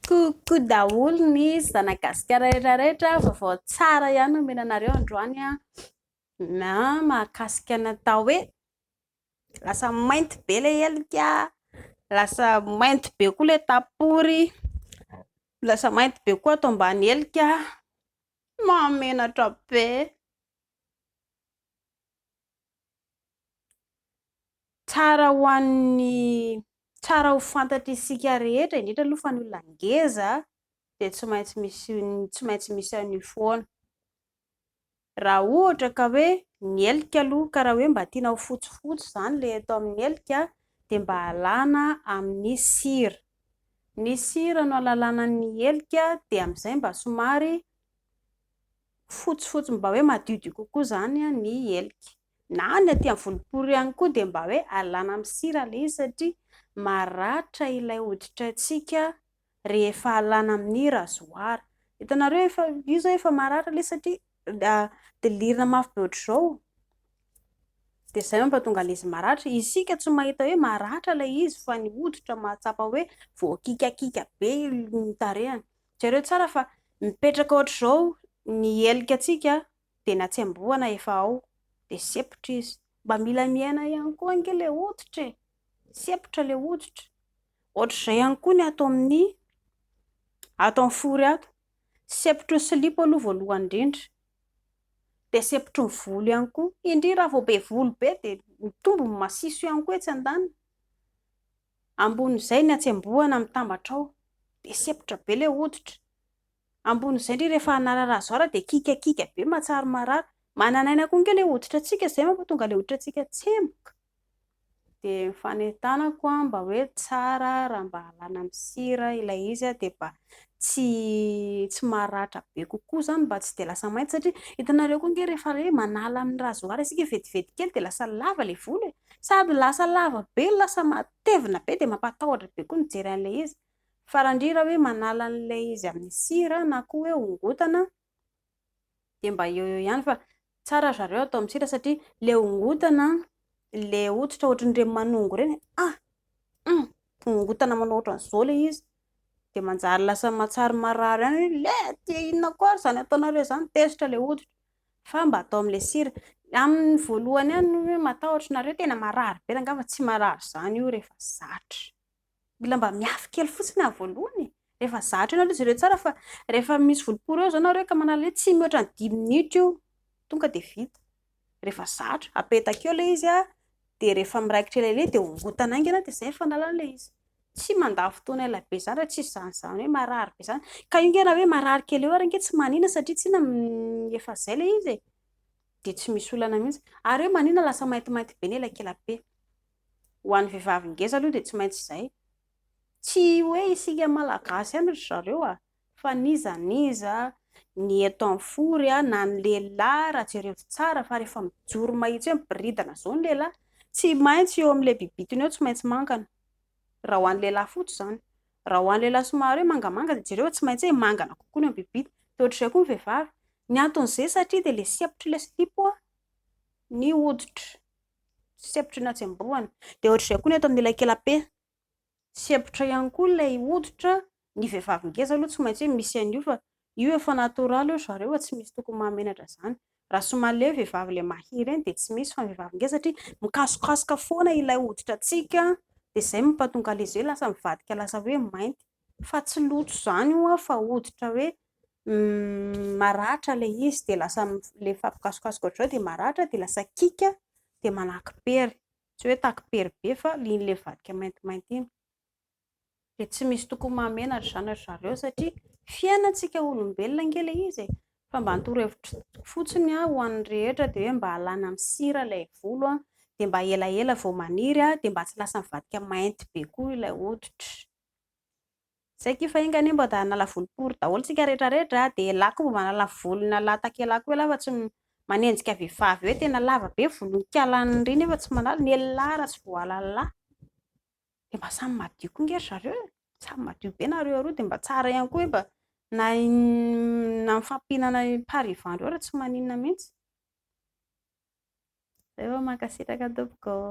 Coucou daholo ny zana gasikara rehetra rehetra, vaovao tsara ihany no omena anareo androany an, na mahakasika ny atao hoe lasa mainty be ilay helika, lasa mainty be koa ilay tapory, lasa mainty be koa ato ambany helika, mahamenatra be. Tsara ho an'ny tsara ho fantatr'isika rehetra, indrindra aloha fa ny olona ngeza dia tsy maintsy misy tsy maintsy misy an'io foana. Raha ohatra ka hoe ny helika aloha ka raha hoe mba tiana ho fotsifotsy izany ilay eto amin'ny helika dia mba alana amin'ny sira. Ny sira no alalana ny helika dia amin'izay mba somary fotsifotsy mba hoe madiodio kokoa izany ny helika. Na ny aty amin'ny volopory ihany koa dia mba hoe alana amin'ny sira ilay izy satria maratra ilay hoditraintsika rehefa alana amin'ny rasoir. Hitanareo efa io izao efa maratra ilay izy satria dilirina mafy be ohatr'izao dia izay mampatonga ilay izy maratra. Isika tsy mahita hoe maratra ilay izy fa ny hoditra mahatsapa hoe voakikakika be ny tarehiny. Jereo tsara fa mipetraka ohatr'izao ny helikatsika dia na tsy amboana efa ao dia sepotra izy. Mba mila miaina ihany koa ange le hoditra e! Sepotra le hoditra. Ohatr'izay ihany koa ny ato amin'ny ato amin'ny fory ato. Sepotry ny silipo aloha voalohany indrindra. Dia sepotry ny volo ihany koa. Indrindra raha vao be volo be dia mitombo ny masiso ihany koa etsy andaniny. Ambonin'izay ny hatsembohana mitambatra ao dia sepotra be ilay hoditra. Ambonin'izay ndry rehefa hanararaha zao ary dia kikakika be mahatsiaro marary. Manan'aina koa ange ilay hoditratsika izay mampatonga ilay hoditratsika tsemboka. Dia ny fanentanako mba hoe tsara raha mba alana amin'ny sira ilay izy dia mba tsy tsy maratra be kokoa izany mba tsy dia lasa mainty satria hitanareo koa ange rehefa hoe manala amin'ny rasoir isika vetivety kely dia lasa lava ilay volo e. Sady lasa lava be, lasa matevina be dia mampatahotra be koa ny mijery an'ilay izy. Faran-dry raha hoe manala an'ilay izy amin'ny sira na koa hoe hongotana dia mba eo eo ihany fa tsara ry zareo atao amin'ny sira satria ilay hongotana, ilay hoditra ohatran'ireny manongo ireny ah! Hum! Hongotana manao ohatran'izao ilay izy dia manjary lasa mahatsiaro marary ihany hoe le! Dia inona koa ary izany ataonareo izany? Tezitra ilay hoditra. fa mba atao amle sira aminy voalohany any hoe matahotra nareo tena marary be angamba tsy marary zany io rehefa zatra mila mba miafy kely fotsiny ah voalohany e rehefa zatra io nareo jereo tsara fa rehefa misy voloporo eo zao nareo ka manala hoe tsy mihoatra ny dimy minutes io tonga de vita rehefa zatra apetaka eo le izy ah de rehefa miraikitra elaela iny de hongotana aingana de zay ny fanalana le izy tsy mandany fotoana ela be zany re, tsy izany izany hoe marary be izany, ka io nge raha hoe marary kely eo ary nge tsy manina satria tsinona efa zay le izy e, dia tsy misy olana mihintsy, ary hoe manina lasa maintimainty be ny elakelabe, ho an'ny vehivavy ngeza aloha dia tsy maintsy izay, tsy hoe isika malagasy ihany ry zareo a. Fa n'iza n'iza, ny eto am four a, na ny lehilahy raha jerevo tsara fa rehefa mijoro mahitsy hoe miboridana zao ny lehilahy, tsy maintsy eo am le bibitony eo tsy maintsy mangana, raha ho an'ny lehilahy fotsy zany, raha ho an'ny lehilahy somary hoe mangamanga de jereo fa tsy maintsy hoe mangana kokoa ny eo am bibity, de ohatr'izay koa ny vehivavy, ny anton'izay satria de le sempotry le silipo a, ny hoditry, sempotry ny hatsembohana, de ohatr'izay koa ny eto am ilay kelape. sempotra ihany koa ilay hoditra, ny vehivavy ngeza aloha tsy maintsy hoe misy an'io fa io efa natoraly hoy zareo fa tsy misy tokony mahamenatra izany, raha somary ilay hoe vehivavy ilay mahia ireny dia tsy misy fa ny vehivavy ngeza satria mikasokasoka foana ilay hoditratsika dia izay mampatonga an'ilay izy hoe lasa mivadika lasa hoe mainty fa tsy loto izany io an fa hoditra hoe maratra ilay izy dia lasa rehefa mikasokasoka ohatr'izao dia maratra dia lasa kiaka dia manaky-pery. Tsy hoe takipery be fa liany le vadika maintimainty iny. Dia tsy misy tokony mahamenatra izany ry zareo satria fiainantsika olombelona ange ilay izy e! Fa mba ny torohevitro fotsiny aho ho an'ny rehetra dia hoe mba alana amin'ny sira ilay volo a! Dia mba elaela vao maniry a! Dia mba tsy lasa mivadika mainty be koa ilay hoditra. Zay ty fa enga anie mba da hanala volo pory daholo tsika rehetra rehetra a, de la ko mba manala volo na la takela ko elah fa tsy manenjika vehivavy hoe tena lava be volonkala any ry nefa tsy manala, ny elah raha tsy voahalala la de mba samy madio ko nge ry zareo e, samy madio be nareo roa de mba tsara ihany koa hoe mba na na mifampihinana par ivan reo raha tsy maninona mihintsy, zay fa mankasitraka tompoko ô.